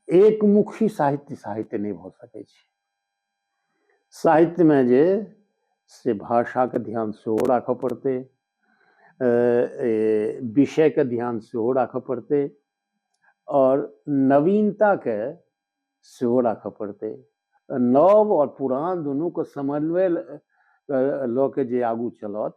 एक मुखी साहित्य साहित्य नहि भऽ सकैत छै साहित्यमे जे से भाषाके ध्यान सेहो राखऽ पड़तै विषयके ध्यान सेहो राखऽ पड़तै आओर नवीनताके सेहो राखऽ पड़तै नव आओर पुरान दुनूके समन्वय लऽ के जे आगू चलत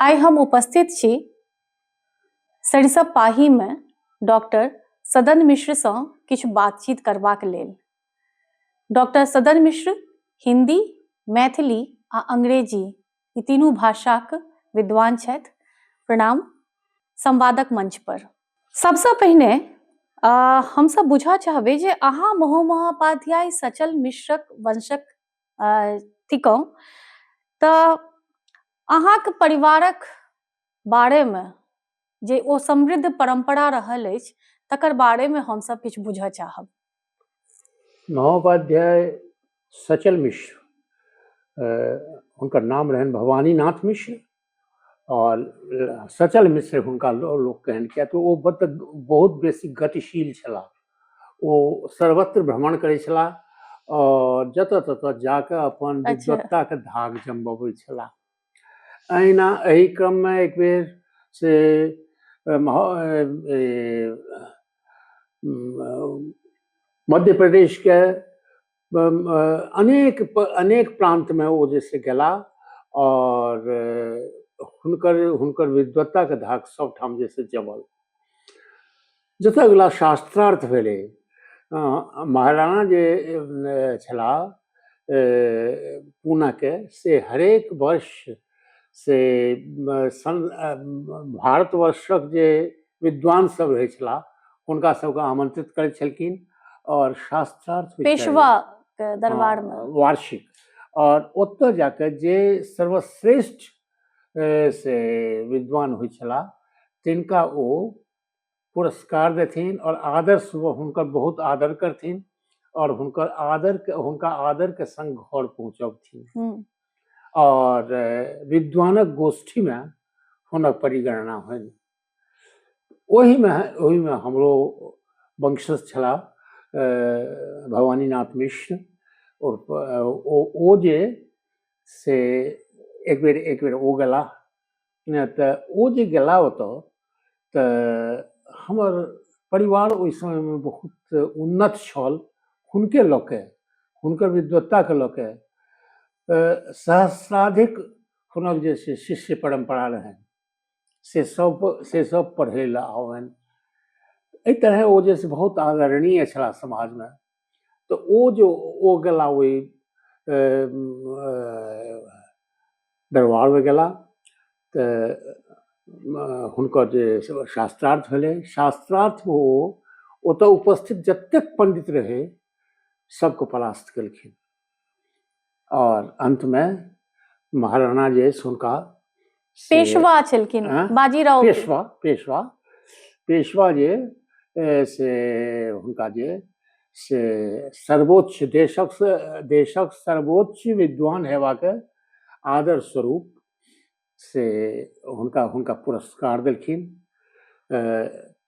आइ हम उपस्थित छी सरिसब पाहीमे डॉक्टर सदन मिश्रसँ किछु बातचीत करबाक लेल डॉक्टर सदन मिश्र हिंदी मैथिली आ अंग्रेजी ई तीनू भाषाक विद्वान छथि प्रणाम संवादक मंच पर सबसँ पहिने हमसब बुझऽ चाहबै जे अहाँ महोमहोपाध्याय सचल मिश्रक वंशक थिकहुँ तऽ अहाँके परिवारक बारेमे जे ओ समृद्ध परम्परा रहल अछि तकर बारेमे हमसभ किछु बुझऽ चाहब महोपाध्याय सचल मिश्र हुनकर नाम रहनि भवानीनाथ मिश्र आओर सचल मिश्र हुनका लोक कहनि किएक तऽ ओ बत बहुत बेसी गतिशील छलाह ओ सर्वत्र भ्रमण करै छलाह आओर जतऽ ततऽ जाकऽ अपन अच्छा। विद्वत्ताके धाक जमबबै छलाह अहिना एहि क्रममे एक बेर से अम, ह- ए, ए, अम, मध्य प्रदेशके अनेक अनेक प्रान्तमे ओ जे छै गेलाह आओर हुनकर हुनकर विद्वत्ताके धाक सभठाम जे छै जमल जतय अगिला शास्त्रार्थ भेलै महाराणा जे छलाह पूनाके से हरेक वर्ष से भारतवर्षक जे विद्वान सब रहै छलाह हुनका सबके आमंत्रित करै छलखिन और शास्त्रार्थ पेशवा के दरबार में हाँ, वार्षिक और ओतऽ जाके जे सर्वश्रेष्ठ से विद्वान होइ छलाह तिनका ओ पुरस्कार देथिन और आदर सुबह हुनकर बहुत आदर करथिन और हुनकर आदर के हुनका आदर के संग घर पहुंचबथिन हम्म। और विद्वानक गोष्ठी में हुनक परिगणना होनि ओहिमे ओहिमे हमरो वंशज छलाह भवानीनाथ मिश्र ओ जे से एक बेर एक बेर ओ गेला तऽ ओ जे गेला ओतऽ तऽ हमर परिवार ओहि समयमे बहुत उन्नत छल हुनके लऽ कऽ हुनकर विद्वत्ताके लऽ कऽ सहस्राधिक हुनक जे छै शिष्य परम्परा रहनि से सब से सब पढ़ै लए आबनि एहि तरहे ओ जे छै बहुत आदरणीय छलाह समाजमे तऽ ओ जे ओ गेला ओहि दरबारमे गेला तऽ हुनकर जे शास्त्रार्थ भेलै शास्त्रार्थमे ओ ओतऽ उपस्थित जतेक पण्डित रहै सबके परास्त केलखिन और अंत में महाराणा जे हुनका पेशवा छलखिन हाँ? बाजीराव पेशवा पेशवा पेशवा जे से हुनका जे से सर्वोच्च देशक देशक सर्वोच्च विद्वान हेबाक आदर स्वरूप से हुनका हुनका पुरस्कार देलखिन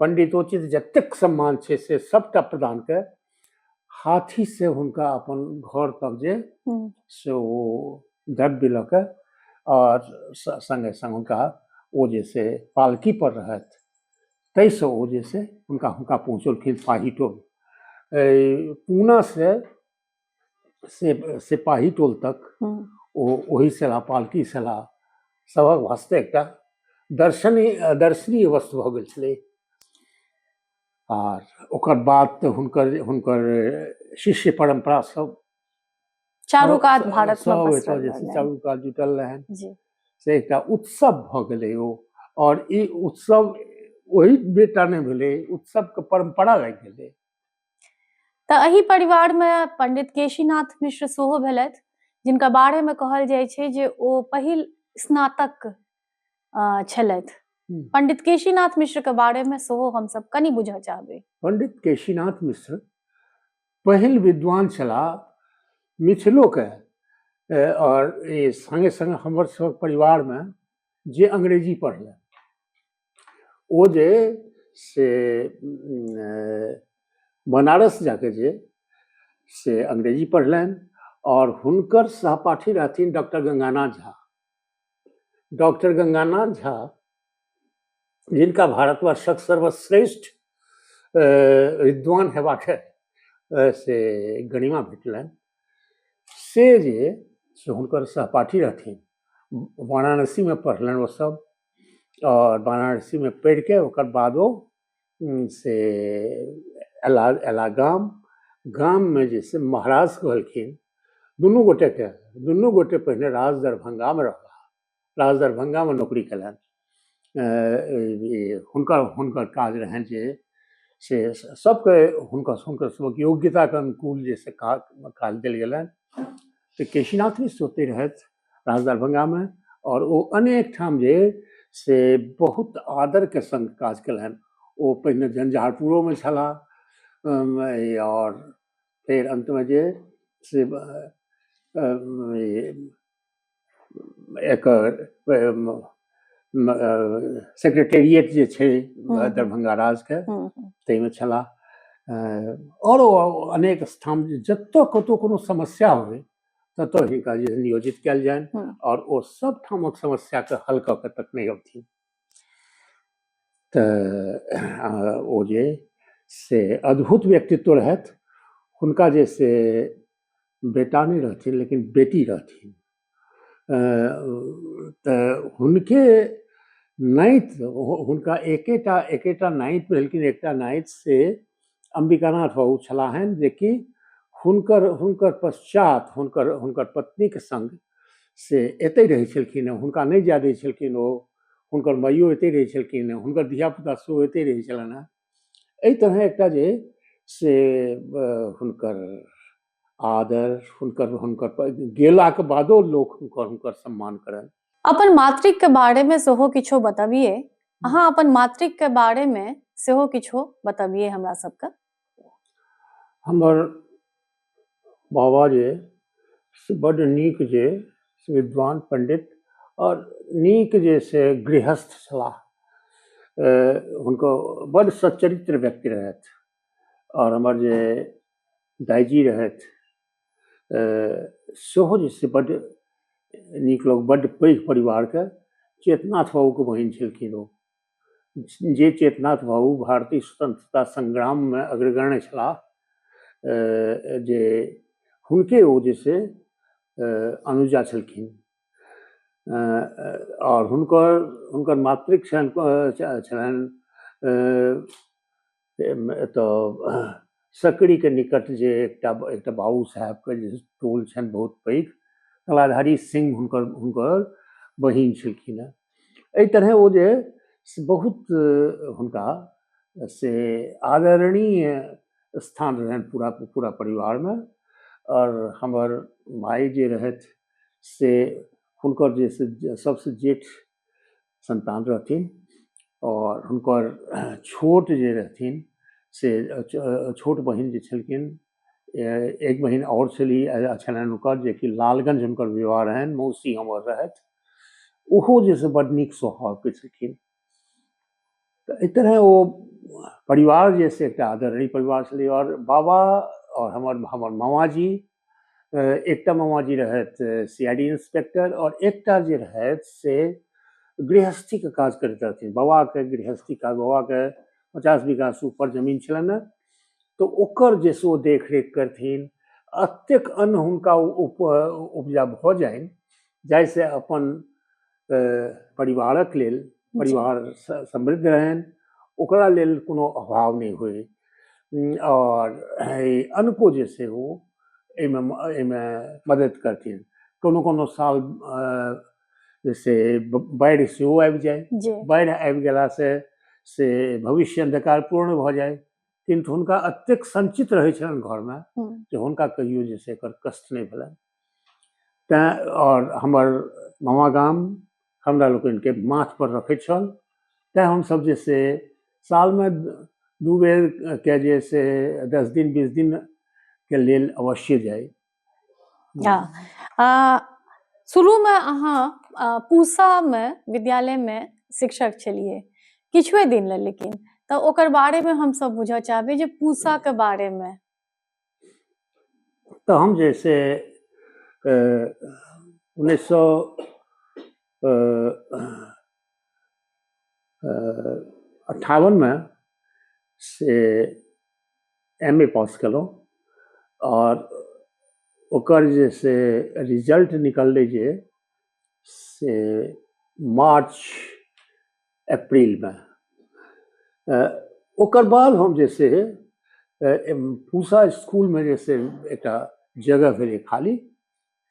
पंडितोचित जतेक सम्मान छै से सबटा प्रदान के हाथी से हुनका अपन घर तक जे से ओ द्रव्य लऽ के आओर संगे संग हुनका ओ जे से पालकी पर रहथि ताहिसँ ओ जे से हुनका हुनका पहुँचलखिन पाही टोल पूना से से सिपाही टोल तक ओ ओहि सेला पालकी सेला सभक वास्ते एकटा दर्शनी दर्शनीय वस्तु भऽ गेल छलै आर ओकर बाद तऽ हुनकर हुनकर शिष्य परम्परा सब चारू कात भारत सब एतऽ जे छै चारू कात जुटल रहन से एकटा उत्सव भऽ गेलै ओ आओर ई उत्सव ओहि बेटा नहि भेलै उत्सवके परम्परा लागि गेलै तऽ एहि परिवारमे पंडित केशीनाथ मिश्र सेहो भेलथि जिनका बारेमे कहल जाइ छै जे ओ पहिल स्नातक छलथि पंडित केशीनाथ मिश्र के बारे में सेहो हम सब कनी बुझऽ चाहबे पंडित केशीनाथ मिश्र पहिल विद्वान छला मिथिलो के और संगे संगे हमर सब परिवार में जे अंग्रेजी पढ़ल ओ जे से बनारस जाके जे से अंग्रेजी पढ़लनि आओर हुनकर सहपाठी रहथिन डॉक्टर गंगानाथ झा डॉक्टर गंगानाथ झा जिनका भारतवर्षक सर्वश्रेष्ठ विद्वान हेबाक से गणिमा भेटलनि से जे से हुनकर सहपाठी रहथिन वाराणसीमे पढ़लनि ओसभ आओर वाराणसीमे पढ़ि कऽ ओकर बाद ओ से अयला अयला गाम गाममे जे छै महाराज कहलखिन दुनू गोटेकेँ दुनू गोटे पहिने राज दरभंगामे रहलाह राज दरभंगामे नौकरी केलनि हुनकर हुनकर काज रहनि जे से सभके हुनकर हुनकर सभक योग्यताके अनुकूल जे से काज काज देल गेलनि तऽ केशीनाथ मिश्र ओतहि रहथि राज दरभंगामे आओर ओ अनेक ठाम जे से बहुत आदरके सङ्ग काज केलनि ओ पहिने झंझारपुरोमे छलाह आओर फेर अन्तमे जे से एकर सेक्रेटेरिएट जे छै हम्म, हम्म। दरभंगा राजके हम्म, ताहिमे छलाह आओर अनेक स्थान जतऽ कतहु कोनो समस्या होइ ततऽ हिनका जे छै नियोजित कयल जानि हँ। आओर ओ सब ठामक समस्याके हल कऽ कऽ तखने अबथिन तऽ आ, ओ जे से अद्भुत व्यक्तित्व रहथि हुनका जे से बेटा नहि रहथिन लेकिन बेटी रहथिन अ, तऽ हुनके नाइत हु- हुनका एकेटा एकेटा नाइत भेलखिन एकटा नाइत से अम्बिकानाथ बाबू छलाहनि जेकि हुनकर हुनकर पश्चात हुनकर हुनकर पत्नीके सङ्ग से एतहि रहै छलखिन हँ हुनका नहि जाए दै छलखिन ओ हुनकर माइयो एतहि रहै छलखिन हँ हुनकर धियापुता सेहो एतहि रहै छलनि हँ एहि तरह एकटा जे से हुनकर आदर हुनकर हुनकर गेलाके बादो लोक हुनकर हुनकर सम्मान करनि अपन मातृक के बारे में सेहो किछो बताबिए अहाँ अपन मातृक के बारे में सेहो किछो बताबिए हमरा सबके हमर बाबा जे से बड नीक जे से विद्वान पंडित और नीक जे से गृहस्थ छलाह अ, हुनको बड सच्चरित्र व्यक्ति रहथि और हमर जे दाइजी रहथि सेहो जे छै बड्ड नीक लोक बड्ड पैघ परिवारके चेतनाथ बाबूके बहिन छलखिन ओ जे चेतनाथ बाबू भारतीय स्वतंत्रता संग्राममे अग्रगण्य छलाह जे हुनके ओ जे छै अनुजा छलखिन आओर हुनकर हुनकर मातृक छनि छलनि एतय सकरीके निकट जे एकटा एकटा बाबू साहेबके जे टोल छनि बहुत पैघ कलाधारी सिंह हुनकर हुनकर बहिन छलखिन हेँ एहि तरहे ओ जे बहुत हुनका से आदरणीय स्थान रहनि पूरा पूरा परिवारमे आओर हमर माय जे रहथि से हुनकर जे सभसँ जेठ सन्तान रहथिन आओर हुनकर छोट जे रहथिन से छोट बहिन जे छलखिन एक बहिन आओर छली छलनि हुनकर जेकि लालगंज हुनकर विवाह रहनि मौसी हमर रहथि ओहो जे से बड्ड नीक स्वभावके छलखिन तऽ एहि तरह ओ परिवार जे से एकटा आदरणीय परिवार छलै आओर बाबा आओर हमर हमर मामाजी एकटा मामाजी रहथि सी आई डी इंस्पेक्टर आओर एकटा जे रहथि से गृहस्थीके काज करैत रहथिन बाबाके गृहस्थी काज बाबाके पचास बीघासँ ऊपर जमीन छलनि ने तऽ ओकर जे से ओ देखरेख करथिन एतेक अन्न हुनका उपजा भऽ जानि जाहिसँ अपन परिवारक लेल परिवार समृद्ध रहनि ओकरा लेल कोनो अभाव नहि होइ आओर अनको जे छै ओ एहिमे एहिमे मदद करथिन कोनो कोनो साल से बाढ़ि सेहो आबि जाय बाढ़ि आबि गेलासँ से भविष्य अन्धकार पूर्ण भऽ जाय किन्तु हुनका एतेक सञ्चित रहै छलनि घरमे जे हुनका कहियो जे छै एकर कष्ट नहि भेलनि तैँ आओर हमर मामा गाम हमरा लोकनिके माथपर रखै छल तैँ हमसभ जे से सालमे दू बेरके जे से दस दिन बीस दिनके लेल अवश्ये जाइ शुरूमे अहाँ पूसामे विद्यालयमे शिक्षक छलियै किछुए दिन लेल लेकिन तऽ ओकर बारेमे हमसभ बुझऽ चाहबै जे पूसाके बारेमे तऽ हम जे से उन्नैस सए अट्ठावनमे से एम ए पास केलहुँ आओर ओकर जे से रिजल्ट निकललै जे से मार्च अप्रिलमे ओकर बाद हम जे छै पूसा इसकुलमे जे छै एकटा जगह भेलै खाली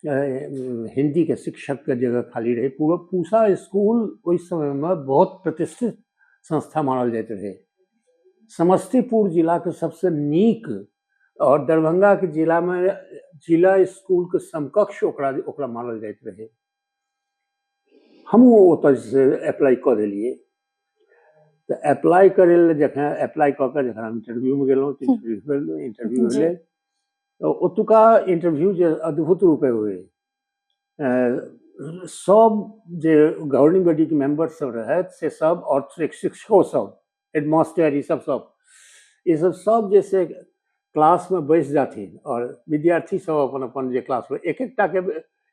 हिन्दीके शिक्षकके जगह खाली रहै पूरा पूसा इसकुल ओहि समयमे बहुत प्रतिष्ठित संस्था मानल जाइत रहै समस्तीपुर जिलाके सबसँ नीक आओर दरभङ्गाके जिलामे जिला इसकुलके समकक्ष ओकरा ओकरा मानल जाइत रहै हमहूँ ओतऽ जे छै अप्लाइ कऽ देलियै तऽ अप्लाइ करै लए जखन अप्लाइ कऽ कऽ जखन हम इंटरव्यूमे गेलहुँ तऽ इंटरव्यू इंटरव्यू जी। भेलै तऽ ओतुका इंटरव्यू जे अद्भुत रूपे होय अ, सब जे गवर्निंग बॉडीके मेंबर सब रहथि से सब और शिक्षको सब हेडमास्टर ईसभ सभ ईसभ सभ जे से क्लासमे बैस जाथिन आओर विद्यार्थीसभ अपन अपन जे क्लासमे एक एकटाके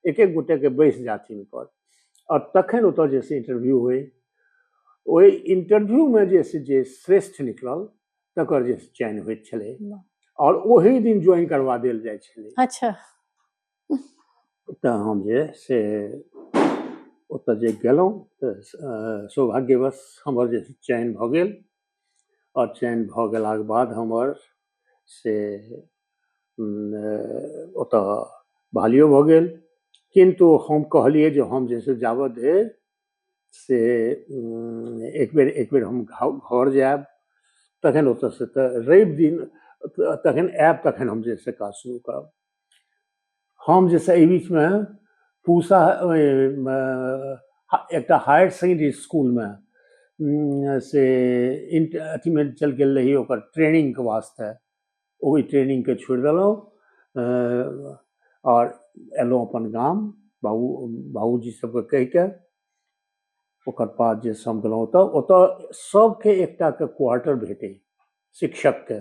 एक एक गोटेके बैस जाथिन पर आओर तखन ओतऽ जे से इन्टरव्यू होइ ओहि इन्टरव्यूमे जे से जे श्रेष्ठ निकलल तकर जे चयन होइत छलै आओर ओही दिन ज्वाइन करवा देल जाइ छलै अच्छा तऽ हम जे से ओतऽ जे गेलहुँ तऽ सौभाग्यवश हमर जे चयन भऽ गेल आओर चयन भऽ गेलाके बाद हमर से ओतऽ बहालियो भऽ गेल किन्तु हम कहलियै जे हम जे छै जाबऽ धरि से एक बेर एक बेर हम घर जायब तखन ओतऽसँ तऽ रवि दिन तखन आयब तखन हम जे छै से काज शुरू करब हम जे छै एहि बीचमे पूसा एकटा हायर सेकेंडरी इसकुलमे से इन्ट अथीमे चलि गेल रही ओकर ट्रेनिंगके वास्ते ओहि ट्रेनिंगके छोड़ि देलहुँ आओर एलहुँ अपन गाम बाबू बाबूजी सबके कहिके ओकर बाद जे हम गेलहुँ ओतऽ ओतऽ सबके एकटाके क्वार्टर भेटै शिक्षकके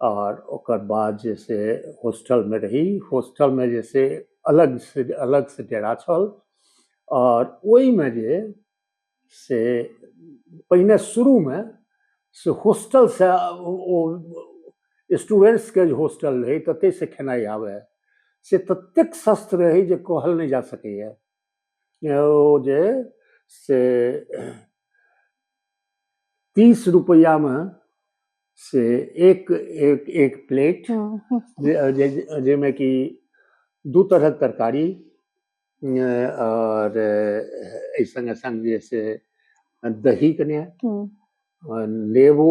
आओर ओकर बाद जे छै होस्टलमे रही होस्टलमे जे छै अलग से अलग से डेरा छल आओर ओहिमे जे से पहिने शुरूमे से होस्टल से ओ स्टूडेंट्सके जे होस्टल रहै ततै से खेनाइ आबै से ततेक सस्त रहै जे कहल नहि जा सकैए ओ जे से तीस रुपैआमे से एक एक एक प्लेट हम्म। जाहिमे कि दू तरहक तरकारी आओर एहि सङ्गे सङ्ग जे से दही कने हम्म। नेबो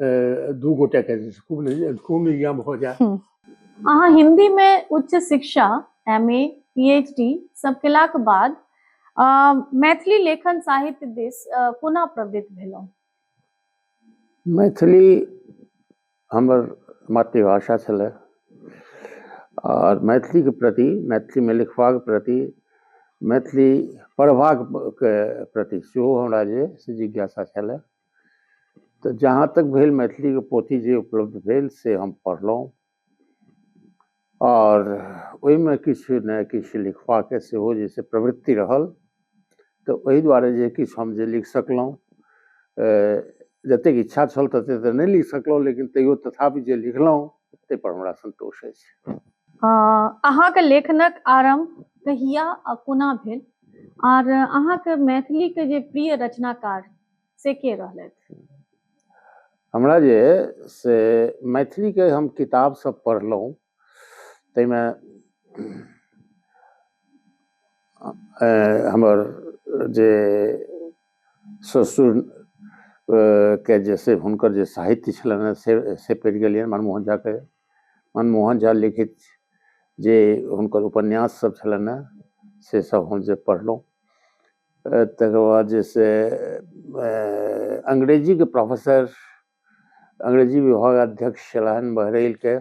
दू गोटे के खूब खूब नियम हो जाए अहाँ हिंदी में उच्च शिक्षा M A P H D सब केलाक बाद मैथिली लेखन साहित्य दिस कोना प्रवृत्त भेलहुँ मैथिली हमर मातृभाषा छलै आओर मैथिलीके प्रति मैथिलीमे लिखबाक प्रति मैथिली पढ़बाक प्रति सेहो हमरा जे से जिज्ञासा छलै तऽ जहाँ तक भेल मैथिलीके पोथी जे उपलब्ध भेल से हम पढ़लहुँ आओर ओहिमे किछु ने किछु लिखबाके सेहो जे छै प्रवृति रहल तऽ ओहि दुआरे जे किछु हम जे लिख सकलहुँ जतेक इच्छा छल ततेक तऽ नहि लिख सकलहुँ लेकिन तैयो तथापि जे लिखलहुँ ताहिपर हमरा सन्तोष अछि अहाँके लेखनक आरम्भ कहिया आ कोना भेल आर अहाँके मैथिलीके जे प्रिय रचनाकार से के रहलथि हमरा जे से मैथिलीके हम किताब सब पढ़लहुँ ताहिमे अ- हमर जे ससुर अ, के जे से हुनकर जे साहित्य छलनि हेँ से से पढ़ि गेलियनि मनमोहन झाके मनमोहन झा लिखित जे हुनकर उपन्यास सब छलनि हेँ से सब हम जे पढ़लहुँ तकर बाद जे छै अंग्रेजीके प्रोफेसर अंग्रेजी विभाग अध्यक्ष छलहन बहरैलके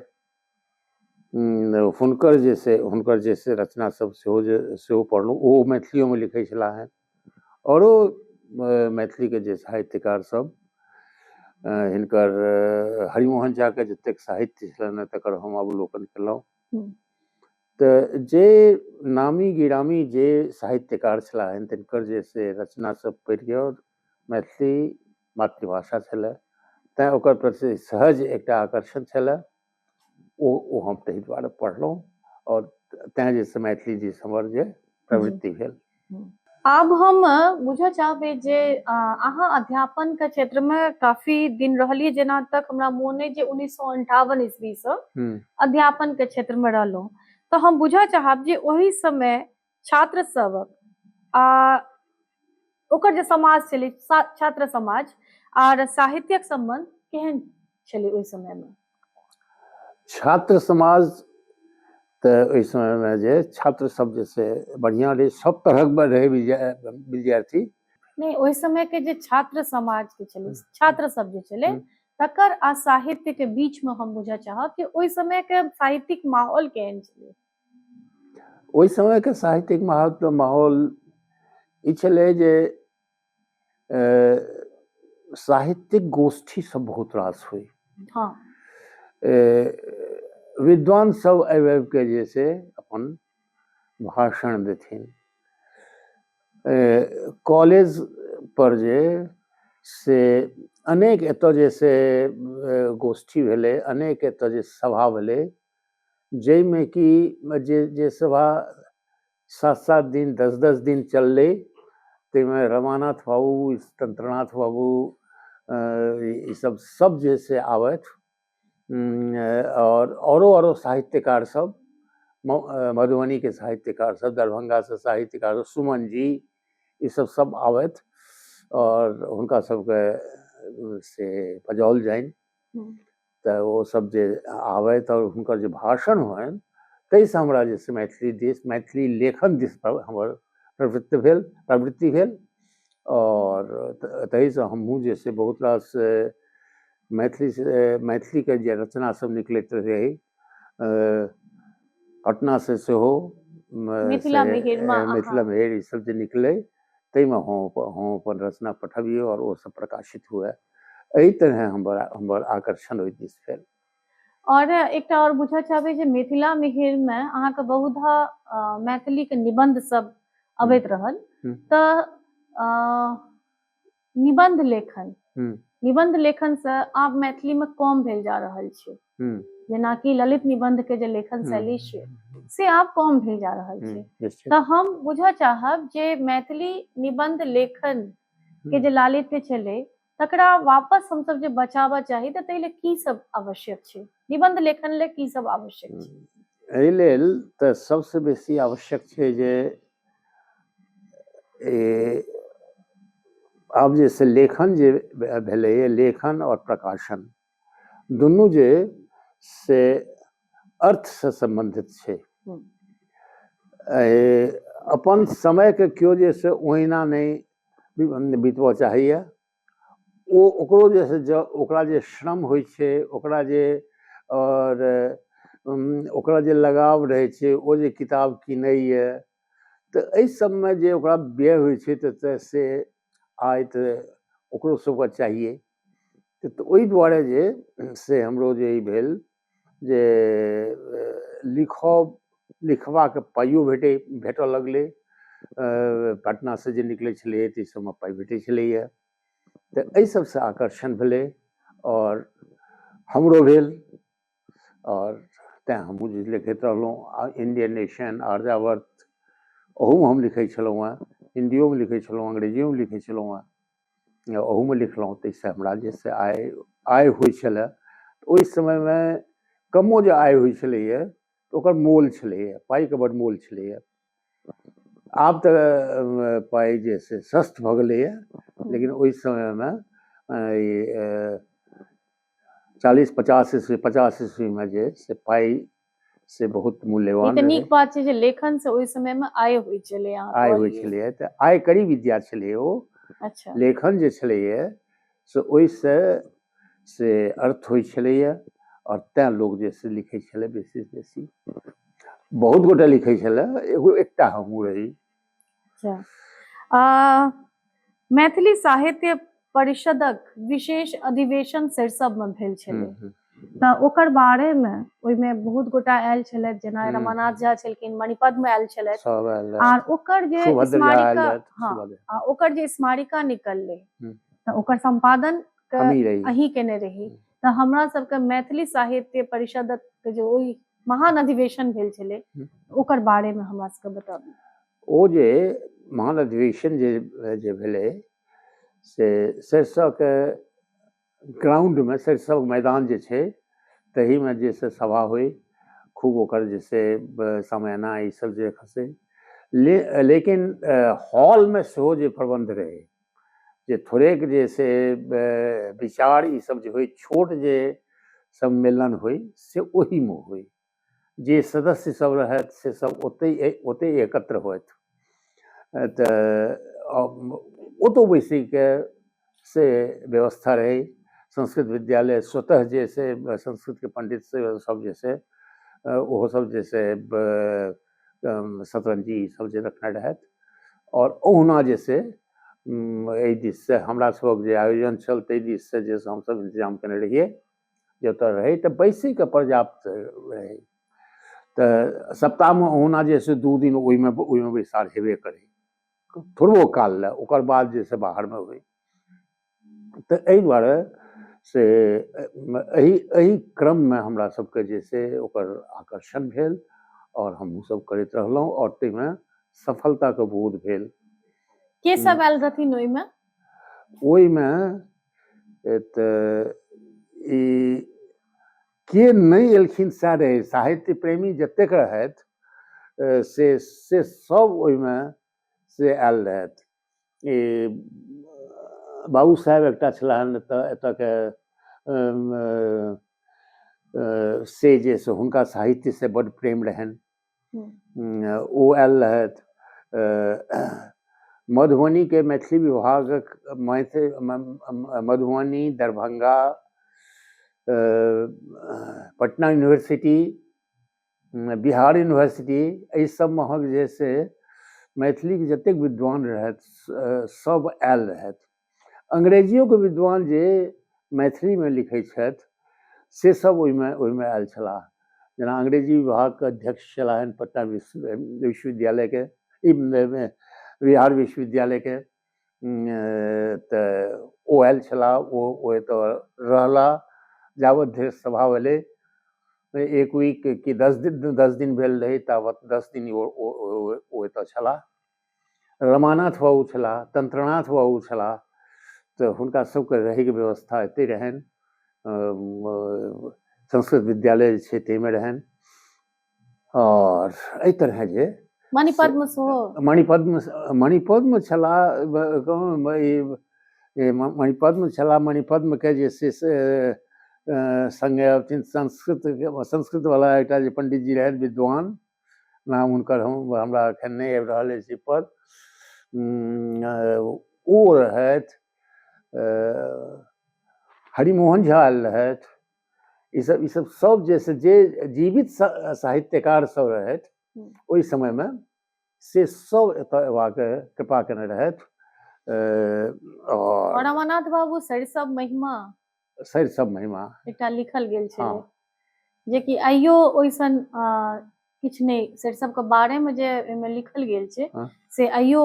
हुनकर जे छै हुनकर जे छै रचना सब सेहो जे सेहो पढ़लहुँ ओ मैथिलियोमे लिखै छलाह हन आओरो मैथिलीके जे साहित्यकार सब हिनकर हरिमोहन झाके जतेक साहित्य छलनि तकर हम अवलोकन केलहुँ तऽ जे नामी गिरामी जे साहित्यकार छलाह हन तिनकर जे से रचना सब पढ़ियौ मैथिली मातृभाषा छलै तैँ ओकर प्रति सहज एकटा आकर्षण छलै ओ ओ हम ताहि दुआरे पढ़लहुँ आओर तैँ जे छै मैथिली दिस हमर जे प्रवृति भेल आब हम बुझऽ चाहबै जे अ, अहाँ अध्यापन के क्षेत्र में काफी दिन रहलिए जेना तक हमरा मोन अछि जे उन्नीस सौ अंठावन ईस्वी से हम्म, अध्यापन के क्षेत्र में रहलहुँ तऽ हम बुझऽ चाहब जे ओहि समय छात्र सभक आ ओकर जे समाज छलै सा- छात्र समाज आर साहित्यक संबंध केहन छलै ओहि समय में छात्र समाज तऽ ओहि समयमे जे छात्र सब जे छै बढ़िआँ रहै सब तरहक रहै विद्यार्थी नहि ओहि समयके जे छात्र समाज के छलै छात्र सब जे छलै तकर आ साहित्य के बीच में हम बुझऽ चाहब कि ओहि समय के साहित्यिक माहौल केहन छलै ओहि समय के साहित्यिक माहौल ई छलै जे साहित्यिक गोष्ठी सब बहुत रास हुई हाँ। विद्वान सब आबि आबि के जे से अपन भाषण देथिन कॉलेज पर जे से अनेक एतऽ जे से गोष्ठी भेलै अनेक एतऽ जे सभा भेलै जाहिमे कि जे जे सभा सात सात दिन दस दस दिन चललै ताहिमे रमानाथ बाबू तंत्रनाथ बाबू ईसभ सभ जे से आबथि आओर औरो औरो साहित्यकार सभ मधुबनीके साहित्यकार सभ दरभंगासँ साहित्यकार सुमन जी ईसभ सभ आबथि आओर हुनका सभके से बजाओल जानि तऽ ओ सब जे आबे तऽ हुनकर जे भाषण होनि ताहि से हमरा जे छै मैथिली दिस मैथिली लेखन दिस हमर प्रवृत्ति भेल प्रवृत्ति भेल आओर ताहि से हमहुँ जे छै बहुत रास मैथिली से मैथिली के जे रचना सब निकलैत रहै पटना से सेहो मिथिला मिहिर ई सब जे निकलै ताहिमे हम हम अपन रचना पठबियै आओर ओ सब प्रकाशित हुए एहि तरह हमर हमर आकर्षण ओहि दिस भेल और एकटा और बुझऽ चाहबै जे मिथिला मिहिर में अहाँ के बहुधा मैथिली के निबंध सब अबैत रहल तऽ निबंध लेखन हम्म। निबंध लेखन से आब मैथिली में कम भेल जा रहल छै हम्म। जेनाकि ललित निबंध के जे लेखन हम्म। शैली छै से आब कम भेल जा रहल छै निश्चित तऽ हम बुझऽ चाहब जे मैथिली निबंध लेखन के जे लालित्य छलै तकरा वापस हमसब जे बचाबऽ चाही तऽ ताहि ले की सब आवश्यक छै निबंध लेखन ले की सब आवश्यक छै एहि लेल तऽ सबसँ बेसी आवश्यक छै जे ई आब जे से लेखन जे भेलैए लेखन आओर प्रकाशन दुनू जे से अर्थसँ सम्बन्धित छै अपन समयकेँ केओ जे छै से ओहिना नहि बितबय चाहैए ओ ओकरो जे छै जँ ओकरा जे श्रम होइ छै ओकरा जे आओर ओकरा जे लगाव रहै छै ओ जे किताब किनैए तऽ एहि सभमे जे ओकरा व्यय होइ छै तऽ तऽ से आइ तऽ ओकरो सभकेँ चाहियै तऽ ओहि दुआरे जे से हमरो जे ई भेल जे लिखब लिखबाक पाइयो भेटै भेटऽ लगलै पटना से जे निकलै छलैया ताहि सबमे पाइ भेटै छलैया तऽ एहि सबसँ आकर्षण भेलै आओर हमरो भेल आओर तैँ हमहुँ जे लिखैत रहलहुँ आ इण्डियन नेशन आर्यावर्त ओहूमे हम लिखै छलहुँ हँ हिन्दियोमे लिखै छलहुँ हँ अंग्रेजियोमे लिखै छलहुँ हँ ओहूमे लिखलहुँ ताहिसँ हमरा जे से आय आय होइ छलए ओहि समयमे कमो जे आय होइ छलैए तऽ ओकर मोल छलैए पाइके बड्ड मोल छलैए आब तऽ अ, पाइ जे से सस्त भऽ गेलैए लेकिन ओहि समयमे अ, ई, अ, चालीस पचास ईस्वी पचास ईस्वीमे जे से पाइ से बहुत मूल्यवान नीक बात छै जे लेखन से ओहि समय में आय होइ छलै आय होइ छलै तऽ आय करी विद्या छलै ओ अच्छा लेखन जे छलैए से ओहिसँ से अर्थ होइ छलैए आओर तैँ लोक जे से लिखै छलै बेसी बेसी बहुत गोटे लिखै छलै एगो एकटा हमहूँ रही अच्छा मैथिली साहित्य परिषदक विशेष अधिवेशन सरिसबमे भेल छलै हम्म, हम्म। तऽ ओकर बारेमे ओहिमे बहुत गोटा आयल छलथि जेना हम्म। रमानाथ झा छलखिन मणिपदमे आयल छलथि सब आयल रहथि। आर ओकर जे सुभद्र झा आयल स्मारिका रहथि, हँ सुभद्र। आ ओकर जे स्मारिका निकललै हम्म। तऽ ओकर संपादन के हमही रही अहीं केने रही तऽ हमरा सबके मैथिली साहित्य परिषदक के जे ओहि महान अधिवेशन भेल छलै ओकर बारेमे हमरा सबके बताबू ओ जे महान अधिवेशन जे जे भेलै से सरिसोके ग्राउंडमे सरिसो मैदान जे छै तहीमे जे से सभा होइ खूब ओकर जे से समयना ईसभ जे खसै ले लेकिन हॉलमे सेहो जे प्रबन्ध रहै जे थोड़ेक जे से विचार ई सब जे होइ छोट जे सम्मेलन होइ से ओहिमे होइ जे सदस्य सब रहथि से सब ओतहि ओतहि एकत्र होथि तऽ ओतौ बैसैके से व्यवस्था रहै संस्कृत विद्यालय स्वतः जे से संस्कृतके पंडित सब जे से ओहो सब जे से शतरञ्जी ईसभ जे रखने रहथि आओर ओहुना जे छै एहि दिससँ हमरासभक जे आयोजन छल ताहि दिससँ जे हमसभ इन्तजाम कयने रहियै जे ओतय रहै तऽ बैसयके पर्याप्त रहै तऽ सप्ताहमे ओहुना जे छै दू दिन ओहिमे ओहिमे बैसार हेबे करै थोड़बो काल लेल ओकर बाद जे छै बाहरमे होय तऽ एहि दुआरे से एहि एहि क्रममे हमरा सबके जे छै से ओकर आकर्षण भेल आओर हमहुँ सब करैत रहलहुँ आओर ताहिमे सफलताके बोध भेल के सब आयल रहथिन ओहिमे ओहिमे तऽ ई के नहि एलखिन सएह रहै साहित्य प्रेमी जतेक रहथि से से सब ओहिमे से आयल रहथि ई बाबू साहेब एकटा छलाह एतऽ एतऽके से जे से हुनका साहित्य से बड प्रेम रहनि हम्म। ओ आयल रहथि मधुबनी के मैथिली विभागक मधुबनी दरभंगा पटना यूनिवर्सिटी बिहार यूनिवर्सिटी एहि सबमे अहाँके जे छै से मैथिलीके जतेक विद्वान रहथि सब आयल रहथि अंग्रेजियोके विद्वान जे मैथिलीमे लिखै छथि से सब ओहिमे ओहिमे आयल छलाह जेना अंग्रेजी विभागके अध्यक्ष छलाह पटना विश्वविद्यालयके बिहार विश्वविद्यालयके तऽ ओ आयल छलाह ओ ओतऽ रहला जाबत धरि सभा भेलै एक वीक कि दस दिन दस दिन भेल रहै ताबत दस दिन ओ ओ एतऽ छलाह रमानाथ बाबू छलाह तन्त्रनाथ बाबू छलाह तऽ हुनका सबके रहैके व्यवस्था एतै रहनि संस्कृत विद्यालय जे छै ताहिमे रहनि आओर एहि तरहे जे मणिपद्म सेहो मणिपद्म मणिपद्म छलाह मणिपद्म छलाह मणिपद्मके जे छै से सङ्गे अथी संस्कृत संस्कृतवला एकटा जे पण्डितजी रहथि विद्वान नाम हुनकर हम हमरा एखन नहि आबि रहल अछि पर ओ रहथि हरिमोहन झा आयल रहथि ई सब ई सब सब जे से जे जीवित सा- साहित्यकार सब रहथि हम्म। ओहि समय में से सब एतय अयबाक कृपा केने रहथि अ, और और अमरनाथ बाबू सरिसव महिमा सरि सब महिमा एकटा लिखल गेल छलै हँ। जेकि आइयो ओइसन अ, किछु नहि सरिसव के बारे में जे एहिमे लिखल गेल छै हँ। से आइयो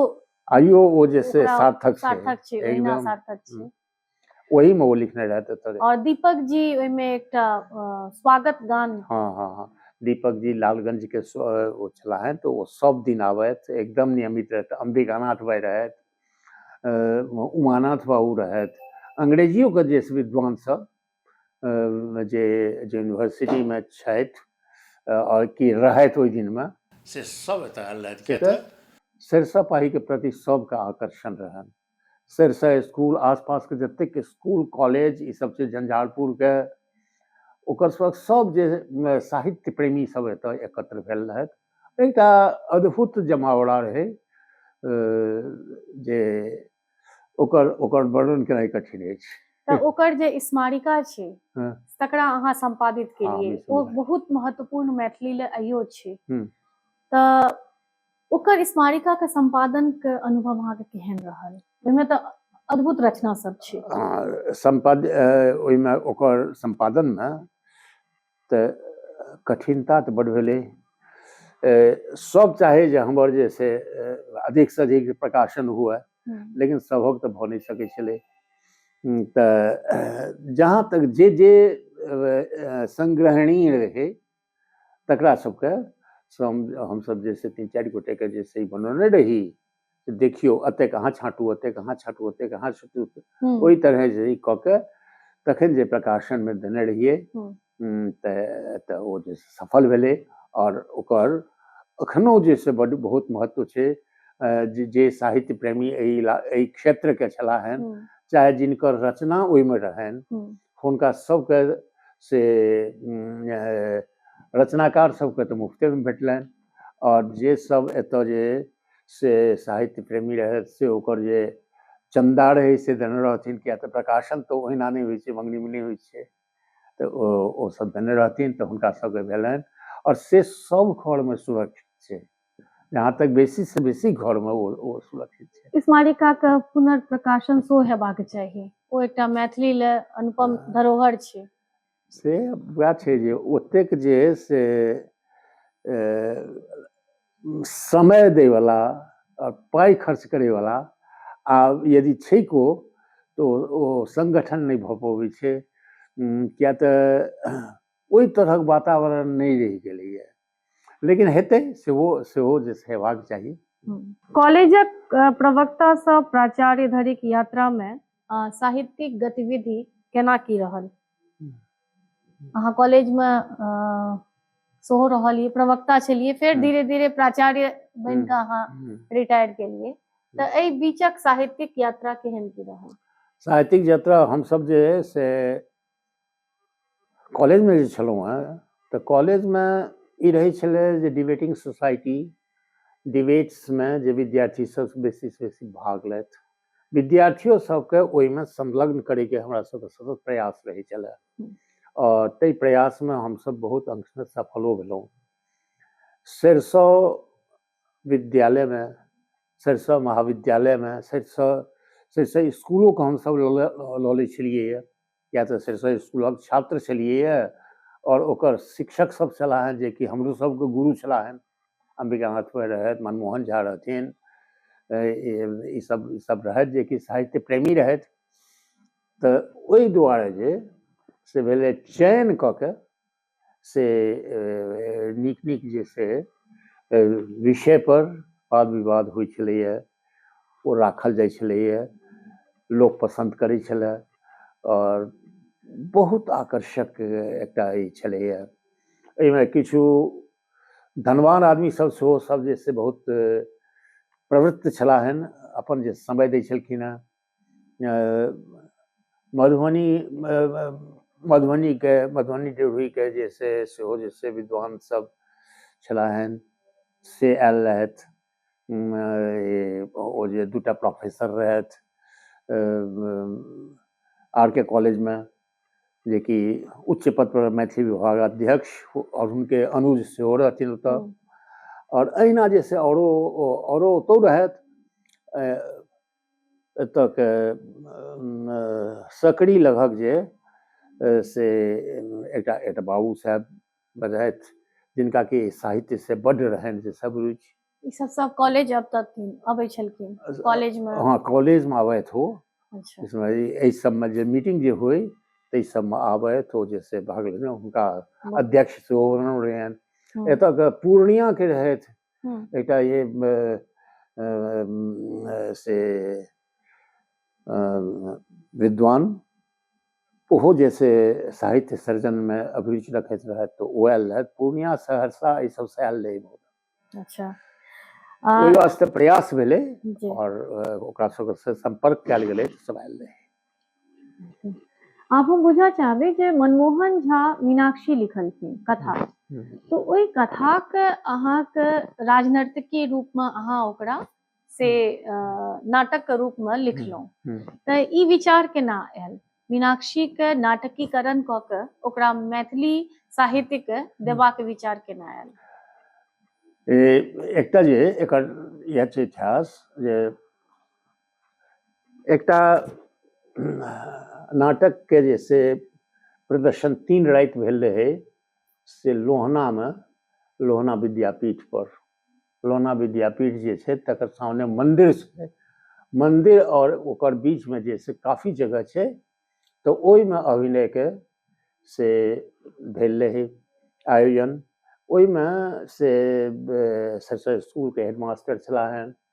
आइयो ओ जे से ओकरा सार्थक छै सार्थक छै ओहिना एकदम सार्थक छै हम्म। ओही में वो लिखने रहते एतऽ रे। और दीपक जी ओहिमे एकटा अ, स्वागत गान हाँ हाँ हाँ दीपक जी लालगंज के स- अ, वो छला है तो वो सब दिन आवत एकदम नियमित रहत अंबिकानाथ भाई रहत अ, उमानाथ बाबू रहत अंग्रेजियो के जे विद्वान सब अ, जे जे यूनिवर्सिटी में छथि अ, और की रहत ओहि दिन में से सब एतऽ आयल रहत के से तऽ सरिसब पाही के प्रति सबके आकर्षण रहन सरिसव इसकुल आसपासके जतेक इसकुल कॉलेज ई सब छै झंझारपुरके ओकर सब सब जे साहित्य प्रेमी सब एतऽ एकत्र भेल रहथि एकटा अद्भुत जमावड़ा रहै जे ओकर ओकर वर्णन केनाइ कठिन अछि तऽ ओकर जे स्मारिका छै हँ। तकरा अहाँ संपादित केलियै हँ, ओ बिल्कुल। बहुत महत्वपूर्ण मैथिली ले अइयो छै हम्म। तऽ ओकर स्मारिका के संपादन के अनुभव अहाँ के केहन रहल ओहिमे तऽ अद्भुत रचना सब छै आ, संपाद अ, ओहिमे ओकर सम्पादनमे तऽ कठिनता तऽ बड भेलै अ, सब चाहे जे हमर जे से अ, अधिकसँ अधिक प्रकाशन हुए हम्म, लेकिन सभक तऽ भऽ नहि सकै छलै हम्म, तऽ जहाँ तक जे जे अ, अ, संग्रहणीय रहै तकरा सबके श्रम हमसब जे छै तीन चारि गोटे के जे छै बनौने रही से देखियौ एतेक अहाँ छाँटू एतेक अहाँ छाँटू एतेक अहाँ छाँटू हम्म, ओहि तरह जे ई कऽ के तखन जे प्रकाशन मे देने रहियै हम्म। उम, तऽ तऽ ओ जे छै सफल भेलै आओर ओकर एखनो जे छै बड बहुत महत्व छै अ, जे- जे साहित्य प्रेमी एहि इला- एहि क्षेत्र के छलाह हन हम्म, चाहे जिनकर रचना ओहिमे रहनि हम्म। हुनका सबके से रचनाकार सबके तऽ मुफ्तेमे भेटलनि आओर जे सब एतऽ जे से साहित्य प्रेमी रहथि से ओकर जे चन्दा रहै से देने रहथिन किएक तऽ प्रकाशन तऽ ओहिना नहि होइ छै मङ्गनीमे नहि होइ छै तऽ ओ ओसब देने रहथिन तऽ हुनका सबके भेलनि आओर से सब घरमे सुरक्षित छै जहाँ तक बेसी से बेसी घर में ओ, ओ सुरक्षित छै स्मारिका के पुनर्प्रकाशन सो हेबाक चाहिए ओ एकटा मैथिली ले अनुपम हाँ। धरोहर छै से वएह छै जे ओतेक जे से समय दै वाला और पाई खर्च करे वाला आ यदि छै को तो ओ संगठन नहीं भ पबै छै किया तऽ ओहि तरहक वातावरण नहि रहि गेलैए लेकिन हेतै सेहो सेहो जे हेबाक चाही कॉलेजक प्रवक्तासँ प्राचार्य धरिक यात्रामे साहित्यिक गतिविधि केना की रहल अहाँ कॉलेजमे सेहो रहलियै प्रवक्ता छलियै फेर धीरे धीरे प्राचार्य बनि कऽ अहाँ रिटायर केलियै तऽ एहि बीचक साहित्यिक यात्रा केहन की रहल साहित्यिक यात्रा हमसभ जे से कॉलेजमे जे छलहुँ हेँ तऽ कॉलेजमे ई रहै छलै जे डिबेटिंग सोसाइटी डिबेट्समे जे विद्यार्थीसभ बेसीसँ बेसी भाग लथि विद्यार्थियो सभके ओहिमे संलग्न करैके हमरा सभके सतत प्रयास रहै छलै आओर ताहि प्रयासमे हमसभ बहुत अंशमे सफलो भेलहुँ सरिसो विद्यालयमे सरिसो महाविद्यालयमे सरिसो सरिसो इसकुलोके हमसभ लऽ लऽ लऽ लै छलियैए किया तऽ सरिसव स्कूलक छात्र छलियैए आओर ओकर शिक्षक सब छलाह हँ जेकि हमरो सबके गुरु छलाह हँ अम्बिका नाथ पै रहथि मनमोहन झा रहथिन ई सब ई सब रहथि जेकि साहित्य प्रेमी रहथि तऽ ओहि दुआरे जे से भेलै चयन कऽ के से नीक नीक जे छै विषय पर वाद विवाद होइत छलैया ओ राखल जाइत छलैया लोक पसन्द करैत छलए आओर बहुत आकर्षक एकटा ई छलैया एहिमे किछु धनवान आदमी सब सेहो सब जे छै बहुत प्रवृत्त छलाह हन अपन जे समय दै छलखिन हँ मधुबनी मधुबनीके मधुबनी ड्योढ़ीके जे छै सेहो जे छै विद्वान सब छलाह हन से आयल रहथि ओ जे दूटा प्रोफेसर रहथि आर के कॉलेजमे जेकि उच्च पद पर मैथिली विभाग अध्यक्ष आओर हुनके अनुज सेहो रहथिन ओतऽ आओर अहिना जे से औरो औरो ओतौ रहथि एतयके सकरी लगक जे से एकटा एकटा बाबू साहेब बजैत जिनका कि साहित्य से बड रहनि जे सब रुचि ई सब सब कॉलेज अब तक अबै छलखिन कॉलेज में हां कॉलेज में आबैत हो अच्छा इसमें एहि सब में जे मीटिंग जे होय तै सब में आबैत हो जे से भाग लेने हुनका अध्यक्ष सेहो रहनि एतय के पूर्णिया के रहथि एकटा ये से विद्वान ओहो जे से साहित्य सर्जनमे अभिरुचि रखैत रहथि तऽ ओ आयल रहथि पूर्णिया सहरसा ई सबसँ आयल रहै अच्छा ओहि वास्ते प्रयास भेलै आओर ओकरा सबसँ सम्पर्क कयल गेलै सब आयल रहै आप हम बुझऽ चाहबै जे मनमोहन झा मीनाक्षी लिखलखिन कथा तो ओहि कथाके अहाँके राजनर्तकी रूपमे अहाँ ओकरा से नाटकके रूपमे लिखलहुँ तऽ ई विचार केना आयल मीनाक्षीके नाटकीकरण कऽ कऽ ओकरा मैथिली साहित्यके देबाक विचार केना आयल एकटा जे एकर इएह छै इतिहास जे एकटा नाटकके जे से प्रदर्शन तीन राति भेल रहै से लोहनामे लोहना विद्यापीठपर लोहना विद्यापीठ जे छै तकर सामने मन्दिर छै मन्दिर आओर ओकर बीचमे जे से काफी जगह छै तऽ ओहिमे अभिनयके से भेल रहै आयोजन ओहिमे से सरसरी स्कूलके हेडमास्टर छलाह हेँ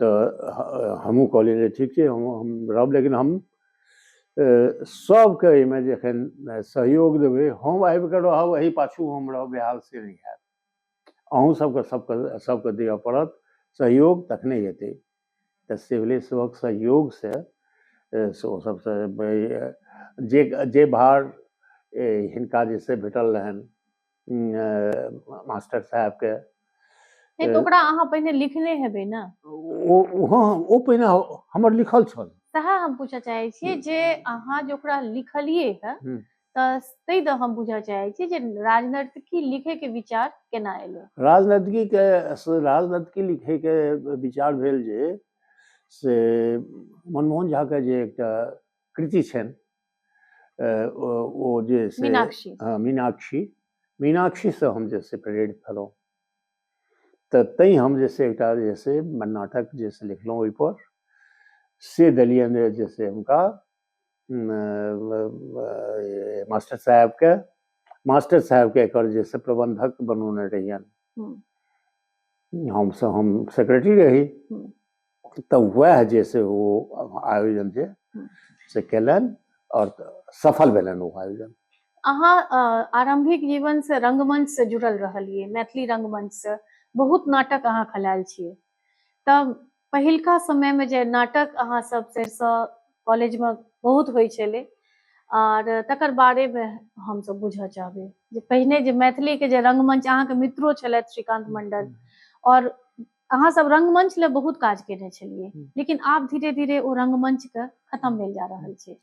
तऽ हमहूँ कहलियै जे ठीक छै हम हम रहब लेकिन हम सभके एहिमे जे एखन सहयोग देबै हम आबि कऽ रहब एहि पाछू हम रहब बेहाल से नहि हैत अहूँ सभके सभके सभके दिअ पड़त सहयोग तखने हेतै तऽ से भेलै सभक सहयोगसँ से ओ सभसँ जे जे भार हिनका जे छै भेटल रहनि मास्टर साहबके नहि तऽ ओकरा अहाँ पहिने लिखने हेबै ने ओ ओ- हँ ओ पहिने हमर लिखल छल सएह हम पूछऽ चाहै छियै हम्म। जे अहाँ जे ओकरा लिखलियै हँ हम्म। तऽ ताहि दऽ हम बुझऽ चाहै छी जे राजनर्तकी लिखैके विचार केना एलै राजनीतिके राजनीतिकी लिखैके विचार भेल जे से मनमोहन झाके जे एकटा कृति छनि ओ जे मीनाक्षी हँ मीनाक्षी मीनाक्षीसँ हम जे से प्रेरित भेलहुँ तऽ तैँ हम जे से एकटा जे से नाटक जे से लिखलहुँ ओहिपर से देलियनि जे से हुनका मास्टर साहेबके मास्टर साहेबके एकर जे से प्रबन्धक बनौने रहियनि हमसभ हम सेक्रेटरी रही तऽ वएह जे से ओ आयोजन जे से कयलनि आओर सफल भेलनि ओ आयोजन अहाँ आरंभिक जीवन से रंगमंच से जुड़ल रहलिए मैथिली रंगमंच से बहुत नाटक अहाँ खलायल छियै तब पहिलका समय में जे नाटक अहाँ सब सरिसो कॉलेज में बहुत होइ छलै आर तकर बारे में हम सब बुझऽ चाहबै जे पहिने जे मैथिली के जे रंगमंच अहाँ के मित्रो छलथि श्रीकांत मंडल और अहाँ सब रंगमंच ले बहुत काज केने छलिए हम्म। लेकिन आप धीरे धीरे वो रंगमंच के खत्म भेल जा रहल छे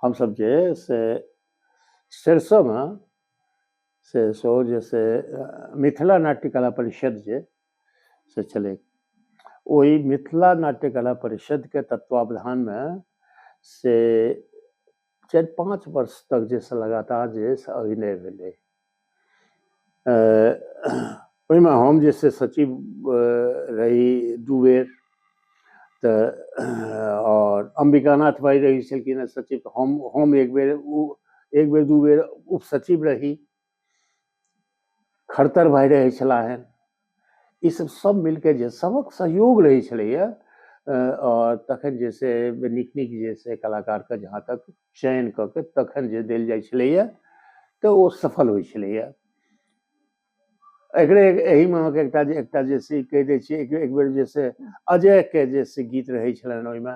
हम सब जे से सरसों में से सो जे से मिथिला नाट्य कला परिषद जे से चले वही मिथिला नाट्य कला परिषद के तत्वावधान में से चारि पाँच वर्ष तक जे से लगातार जे से अभिनय भेलै ओहिमे हम जे से सचिव रही दू बेर तऽ आओर अम्बिकानाथ भाइ रहै छलखिन हँ सचिव हम हम एक बेर ओ एक बेर दू बेर उपसचिव रही खरतर भाय रहै छलाह हन ई सब सब मिलके जे सबक सहयोग रहै छलैया आओर तखन जे से नीक नीक जे से कलाकारके जहाँ तक चयन कऽ के तखन जे देल जाइ छलैया तऽ ओ सफल होइ छलैया एकरे एहिमे अहाँके एकटा जे एकटा जे से कहि दै छियै एक बेर जे से अजयके जे से गीत रहै छलनि ओहिमे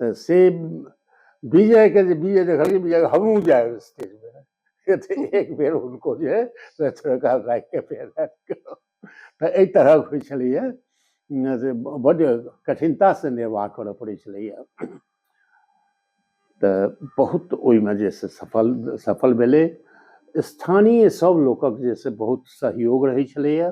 तऽ से विजयके जे विजय देखलकै विजय हमहूँ जायब स्टेजमे तऽ एक बेर हुनको जे है से थोड़का राखिके फेर तऽ एहि तरहक होइ छलैए से बड्ड कठिनतासँ निर्वाह करय पड़ै छलैए तऽ बहुत ओहिमे जे से सफल सफल भेलै स्थानीय सभ लोकक जे से बहुत सहयोग रहै छलैए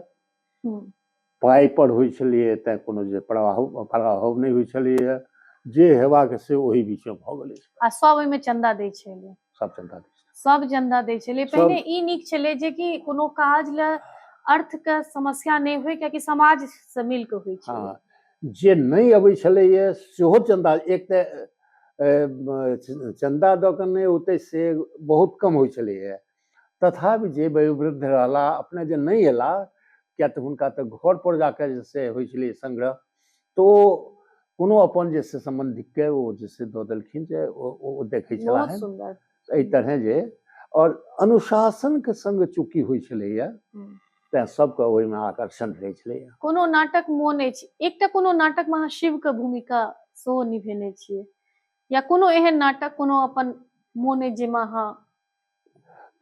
पाइपर होइ छलैए तैँ कोनो जे प्रभाव प्रभाव नहि होइ छलैए जे हेबाक से ओहि बीचमे भऽ गेलै आ सब ओहिमे चंदा दै छलै सब चंदा दै छलै सब चंदा दै छलै पहिने ई नीक छलै जे कि कोनो काज ले अर्थ के समस्या नहि होइ कियाकि समाज से मिल के होइ छै हाँ, जे नहि अबै छलैए सेहो चंदा एक तऽ चंदा दऽ कऽ नहि होतै से बहुत कम होइ छलैए तथापि जे वयोवृद्ध रहला अपने जे नहि अयला किया तऽ हुनका तऽ घर पर जाके जे से होइ छलै संग्रह तऽ ओ कोनो अपन जे से सम्बन्धिकके ओ जे से दऽ देलखिन जे ओ देखै छलाह एहि तरहे जे आओर अनुशासनके संग चूँकि होइ छलैया तैं सबके ओहिमे आकर्षण रहै छलै कोनो नाटक मोन अछि एकटा कोनो नाटक मे अहाँ शिवके भूमिका सेहो निभेने छियै या कोनो एहन नाटक कोनो अपन मोन अछि जाहिमे अहाँ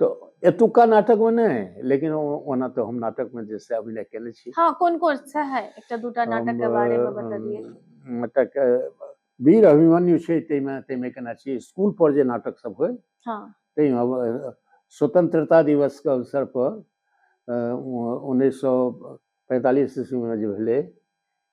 तऽ एतुका नाटक में नै लेकिन ओना तऽ हम नाटक में जे से अभिनय केने छी हां कोन कोन से है एकटा दूटा नाटक के बारे में बता दिए नाटक वीर अभिमन्यु छै तै में तै में केना छी स्कूल पर जे नाटक सब होय हां तै में स्वतंत्रता दिवस के अवसर पर उन्नैस सए पैंतालिस ईस्वी में जे भेलै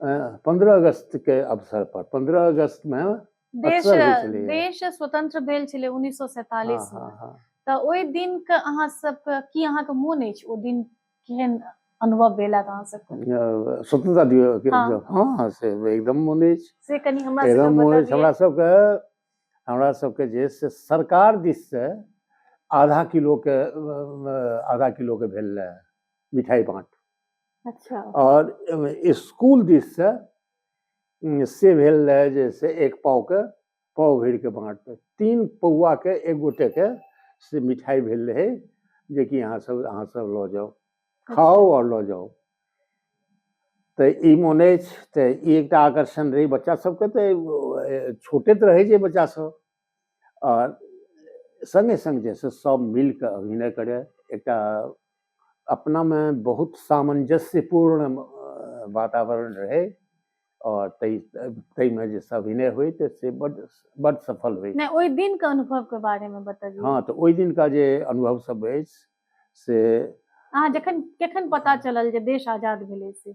पंद्रह अगस्त के अवसर पर पंद्रह अगस्त में देश देश स्वतंत्र भेल छलै उन्नीस सौ सैतालीस हाँ, हाँ, हाँ। तऽ ओहि दिन के अहाँ सबके की अहाँ के मोन अछि ओ दिन केहन अनुभव भेला अहाँ सबके स्वतंत्रता दिवस हाँ।, हाँ से एकदम मोन अछि से कनी हमरा एकदम मोन अछि हमरा सबके हमरा सबके जे से सरकार दिस से आधा किलो के आधा किलो के भेल मिठाई बाँट अच्छा और स्कूल दिस से से भेल रहे जे से एक पाव के पाव भर के बाँट पे तीन पौआ के एक गोटे के से मिठाई भेल रहे जे कि अहाँ सब अहाँ सब लऽ जाउ खाउ और लऽ जाउ तऽ ई मोन अछि तऽ ई एकटा आकर्षण रहै बच्चा सबके तऽ छोटे तऽ रहै छै बच्चा सब सङ्गे सङ्ग जे छै सभ मिल कऽ अभिनय करय एकटा अपनामे बहुत सामञ्जस्यपूर्ण वातावरण रहै और तै तै में जे सब इने हुई तो से बड बड सफल हुई नहीं ओई दिन के अनुभव के बारे में बताइए हां तो ओई दिन का जे अनुभव सब है से अहाँ जखन कखन पता चलल जे देश आजाद भेलै से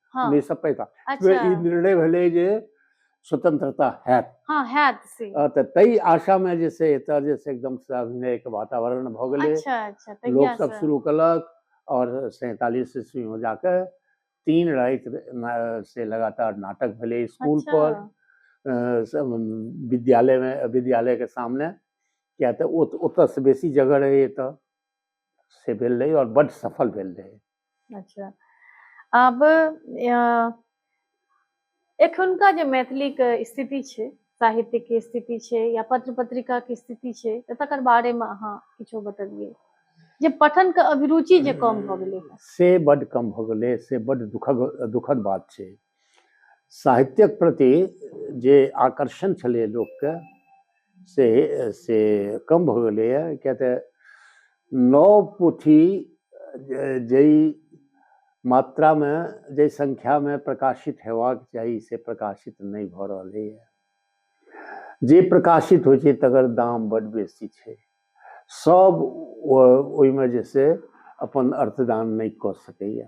हँ नहि सब पैता ई अच्छा निर्णय भेलै जे स्वतंत्रता हैत हँ हैत से अ, तऽ ताहि आशा मे जे छै एतऽ जे छै एकदम से अभिनय के वातावरण भऽ गेलै अच्छा अच्छा लोक तहिया सब से शुरू कलक और सैतालीस ईस्वी में जाके तीन राति न- से लगातार नाटक भेले स्कूल अच्छा पर अ, सब विद्यालय में विद्यालय के सामने किया तऽ ओत- ओतऽ से बेसी जगह रहे एतऽ से भेल रहे और बड सफल भेल रहे अच्छा आब एखुनका जे मैथिलीके स्थिति छै साहित्यके स्थिति छै या पत्र पत्रिकाके स्थिति छै तऽ तकर बारेमे अहाँ किछो बतबियै जे पठनके अभिरुचि जे कम भऽ गेलै से बड्ड कम भऽ गेलै से बड्ड दुखद दुखद बात छै साहित्यक प्रति जे आकर्षण छलै लोकके से से कम भऽ गेलैए किएक तऽ नव पोथी जाहि मात्रामे जाहि संख्यामे प्रकाशित हेबाक चाही से प्रकाशित नहि भऽ रहलैए जे प्रकाशित होइ छै तकर दाम बड्ड बेसी छै सभ ओहिमे जे से अपन अर्थदान नहि कऽ सकैए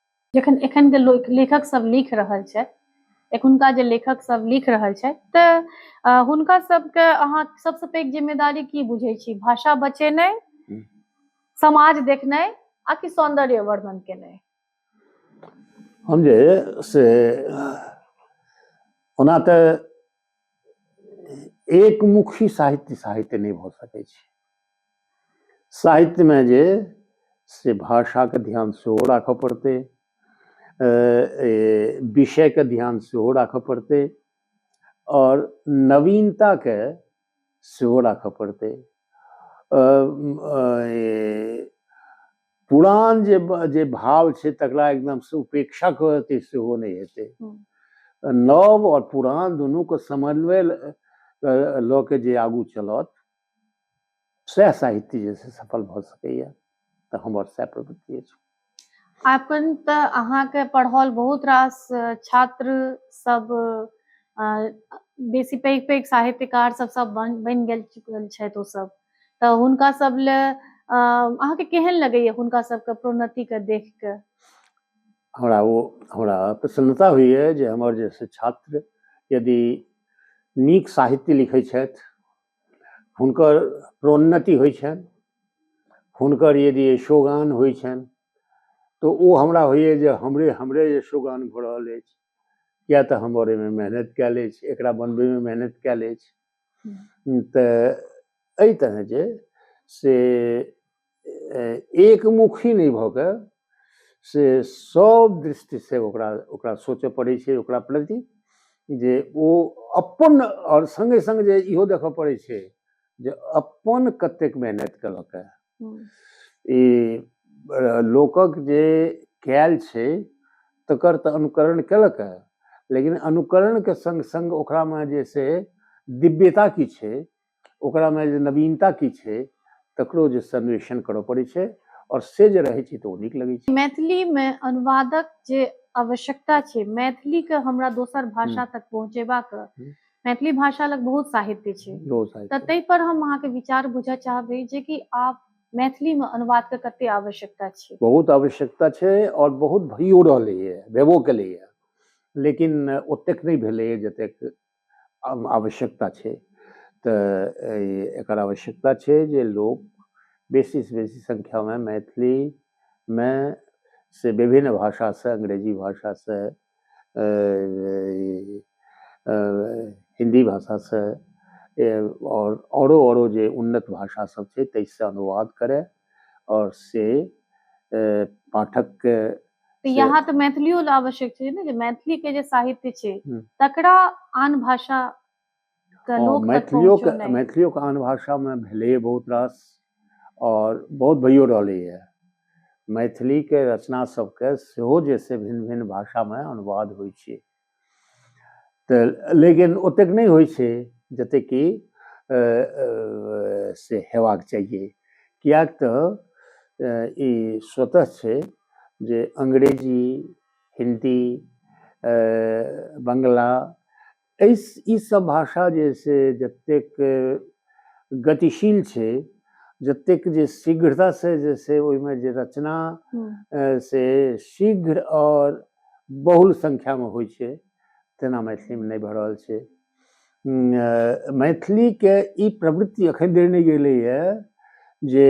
जखन एखन के लो- लेखक सब लिख रहल छै एखुनका जे लेखक सब लिख रहल छै तऽ अ, हुनका सबके अहाँ सबसँ पैघ जिम्मेदारी की बुझै छी भाषा बचेनाइ हम्म। समाज देखनाइ आ कि सौंदर्य वर्धन केनाइ हम जे से ओना तऽ एकमुखी साहित्य साहित्य नहि भऽ सकै छै साहित्यमे जे से भाषाके ध्यान सेहो राखऽ पड़तै विषयके ध्यान सेहो राखऽ पड़तै आओर नवीनताके सेहो राखऽ पड़तै पुरान जे जे भाव छै तकरा एकदमसँ उपेक्षा कऽ देतै सेहो नहि हेतै नव आओर पुरान दुनूके समन्वय लऽ के जे आगू चलत सएह साहित्य जे छै सफल भऽ सकैए तऽ हमर सएह प्रवृत्ति अछि अपन तऽ अहाँके पढ़ल बहुत रास छात्र सब बेसी पैघ पैघ साहित्यकार सब सब बनि गेल चुकल छथि ओ सब तऽ हुनका सब ले अ, अहाँके केहन लगैए हुनका सबके प्रोन्नतिके देख कऽ हमरा ओ हमरा प्रसन्नता होइए जे हमर जे से छात्र यदि नीक साहित्य लिखै छथि हुनकर प्रोन्नति होइ छनि हुनकर यदि यशोगान होइ छनि तऽ ओ हमरा होइए जे हमरे हमरे यशोगान भऽ रहल अछि किएक तऽ हमर एहिमे मेहनत कयल अछि एकरा बनबैमे मेहनत कयल अछि तऽ एहि तरह जे से एकमुखी नहि भऽ कऽ से सब दृष्टि से ओकरा ओकरा सोचय पड़ै छै ओकरा प्रति जे ओ अपन आओर संगे संग जे इहो देखय पड़ै छै जे अपन कतेक मेहनत केलक ई लोकक जे कयल छै तकर तऽ अनुकरण केलक है लेकिन अनुकरण के संग संग ओकरा मे जे से दिव्यता की छै ओकरा मे जे नवीनता की छै तकरो जे संवेषण करऽ पड़ै छै और से जे रहै छै तऽ ओ नीक लगै छै मैथिली मे अनुवादक जे आवश्यकता छै मैथिली के हमरा दोसर भाषा तक पहुँचेबाक मैथिली भाषा लग बहुत साहित्य छै बहुत साहित्य तऽ ताहि पर हम अहाँके विचार बुझऽ चाहबै जे कि आप मैथिली में अनुवाद के कते आवश्यकता छै बहुत आवश्यकता छै और बहुत भइयो रहलैए भेबो केलैए लेकिन ओतेक नहि भेलैए जतेक आव- आवश्यकता छै तऽ ए- एकर आवश्यकता छै जे लोक बेसी से बेसी संख्या में मैथिली में से विभिन्न भाषा से अंग्रेजी भाषा से हिन्दी भाषासँ आओर आओरो आओरो जे उन्नत भाषा सब छै ताहिसँ अनुवाद करय आओर से पाठकके तऽ यहाँ तऽ मैथिलियो लए आवश्यक छै ने जे मैथिलीके जे साहित्य छै तकरा आन भाषा मैथिलियोके मैथिलियोके आन भाषामे भेलैए बहुत रास आओर बहुत भइयो रहलैए मैथिलीके रचना सबके सेहो जे से भिन्न भिन्न भाषामे अनुवाद होइ छै तऽ लेकिन ओतेक नहि होइ छै जतेक कि से हेबाक चाहिए किएक तऽ ई स्वतः छै जे अंग्रेजी हिन्दी बंगला एहि ई सब भाषा जे है से जतेक गतिशील छै जतेक जे शीघ्रता से जे से ओहिमे जे रचना से शीघ्र और बहुल संख्या में होइ छै तेना मैथिली में नहीं भऽ रहल छै मैथिली के ई प्रवृत्ति अखन देर नहि गेलैए जे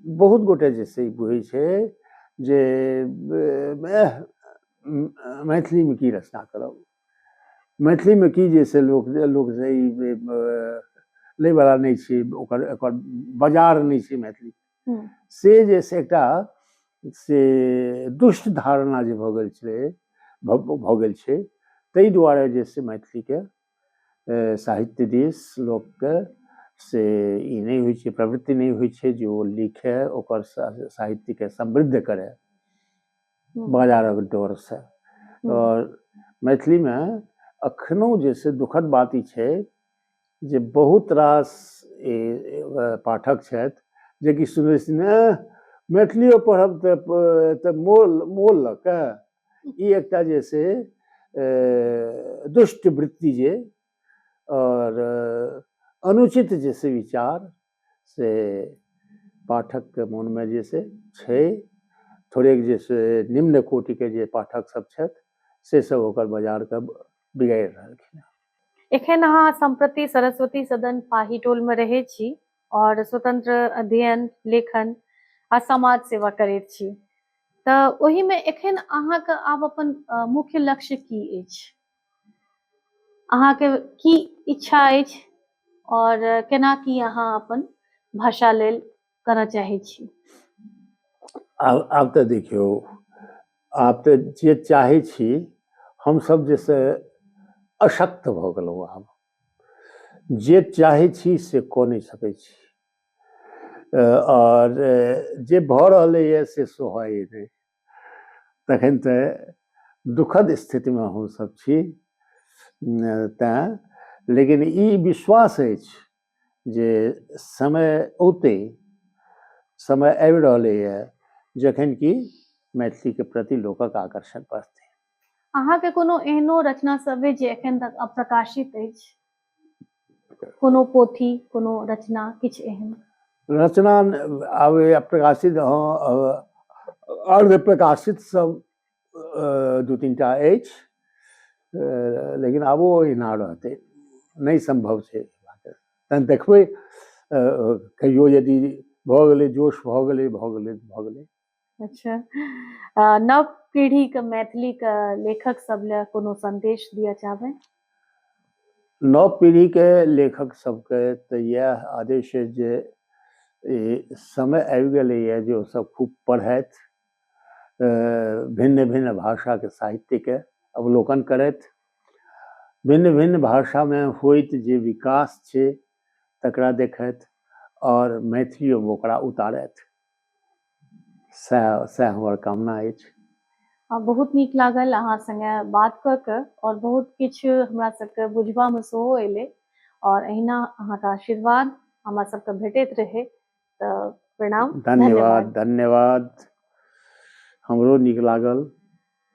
बहुत गोटे जे से बुझै छै जे मैथिलीमे की रचना करब मैथिलीमे की जे से लोक लोक से ई लैवला नहि छै ओकर एकर बाजार नहि छै मैथिली हम्म। से जे से एकटा से दुष्ट धारणा जे भऽ गेल छलै भऽ गेल छै ताहि दुआरे जे से मैथिलीके साहित्य दिस लोकके से ई नहि होइ छै प्रवृत्ति नहि होइ छै जे ओ लिखै ओकर साहित्यके समृद्ध करै बाजारक डरसँ आओर मैथिलीमे अखनो जे छै दुखद बात ई छै जे बहुत रास पाठक छथि जेकि सुनै सुनै मैथिलियो पढ़ब तऽ तऽ मोल मोल लऽ कऽ ई एकटा जे छै दुष्ट वृत्ति जे आओर अनुचित जे छै विचार से पाठकके मोनमे जे से छै थोड़ेक जे से निम्न कोटिके जे पाठक सब छथि से सब ओकर बाजारके बिगाड़ि रहलखिन हँ एखन अहाँ सम्प्रति सरस्वती सदन पाही टोलमे रहै छी आओर स्वतंत्र अध्ययन लेखन आ समाज सेवा करैत छी तऽ ओहिमे एखन अहाँके आब अपन मुख्य लक्ष्य की अछि अहाँके की इच्छा अछि आओर केना की अहाँ अपन भाषा लेल करऽ चाहै छी आब आब तऽ देखियौ आब तऽ जे चाहै छी हमसभ जे से अशक्त भऽ गेलहुँ आब जे चाहै छी से कऽ नहि सकै छी अ, आओर अ, जे भऽ रहलैए से सोहै नहि तखन तऽ दुखद स्थितिमे हमसभ छी तैँ लेकिन ई विश्वास अछि जे समय औते समय आबि रहलैए जखन कि मैथिलीके प्रति लोकक आकर्षण बढ़तै अहाँके कोनो एहनो रचना सब अछि जे एखन तक अप्रकाशित अछि कोनो पोथी कोनो रचना किछु एहन रचना आब प्रकाशित अर्ध प्रकाशित सब दू तीन टा अछि लेकिन आबो ओहिना रहतै नहि सम्भव छै तहन देखबै कहियो यदि भऽ गेलै जोश भऽ गेलै भऽ गेलै भऽ गेलै अच्छा नव पीढ़ी के मैथिली के लेखक सब ले कोनो संदेश दिया चाहबे नव पीढ़ी के लेखक सब के तो यह आदेश है जे समय आबि गए है जो सब खूब पढ़त भिन्न भिन्न भाषा के साहित्य के अवलोकन करत भिन्न भिन्न भाषा में होत जे विकास छे तकरा देखत और मैथिली ओकरा उतारत सएह सएह हमर कामना अछि आ बहुत नीक लागल अहाँ सङ्गे बात कऽ कऽ आओर बहुत किछु हमरा सभके बुझबामे सेहो अयलै आओर अहिना अहाँके आशीर्वाद हमरा सभके भेटैत रहै तऽ प्रणाम धन्यवाद धन्यवाद हमरो नीक लागल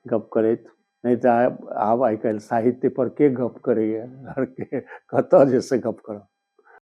गप करैत नहि तऽ आब आइ काल्हि साहित्य पर के गप करैए हर के कतऽ जे से गप करब